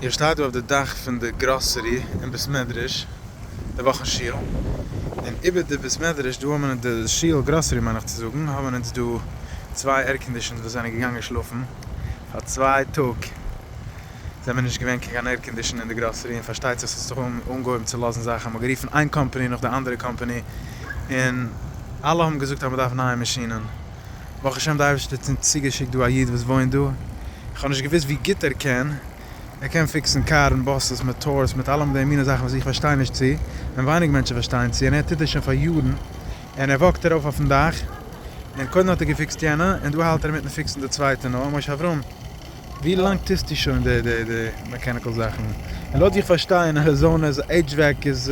איר שטייט דא אויף די דאך פון די גראסערי און בית מדרש די וואך אין שול, און איבער די בית מדרש דא האבן אונז די שול גראסערי מיין איך צו זאגן האבן אונז דא צוויי עירקאנדישאנס וואס זענען געגאנגען שלאפן פאר צוויי טאג זעמער נישט געווען קיין קיין עירקאנדישאן אין די גראסערי און פארשטייט זיך ס'האט זיך אנגעהויבן צו לאזן זאכן מ'האט גערופן איין קאמפאני נאך די אנדערע קאמפאני און אלע האבן געזאגט אז מ'דארף נייע מאשינען. ברוך השם די אייבערשטער האט אונז צוגעשיקט דא א איד וואס וואוינט דא, איך האב נישט געוואוסט ווי גוט ער קען, ער קען פיקסן קארן, באסעס, מאטארס, מיט אלעם די מינע זאכן וואס איך פארשטיי נישט צו, און ווייניג מענטשן פארשטייען צו, און ער טוט עס שוין פאר יארן, און ער וואקט ארויף אויפן דאך, און קודם האט ער געפיקסט יענע, און דא האלט ער אינמיטן פיקסן די צווייטע, נו, משה אברהם, ווי לאנג טוסטו שוין די די די מעקעניקעל זאכן? און לויט ווי איך פארשטיי אין אריזאנע איז HVAC איז.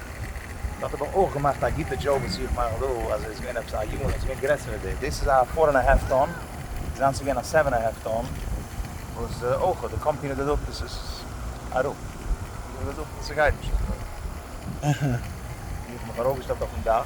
מען האט אבער אויך געמאכט א גוטע דזשאוק וואס איך מאך דא אז עס איז געווען עפעס א יון עס איז געווען גרעסער ווי דאס, דאס איז א פאר ענד א האלף טאן, זיינס איז געווען א סעווען א האלף טאן, וואס אויך די קאמפיני האט געזאגט אז עס איז אראפ, איך האב געזאגט אז עס גייט נישט אזוי, איך האב מיך ארויפגעשטעלט אויפן דאך.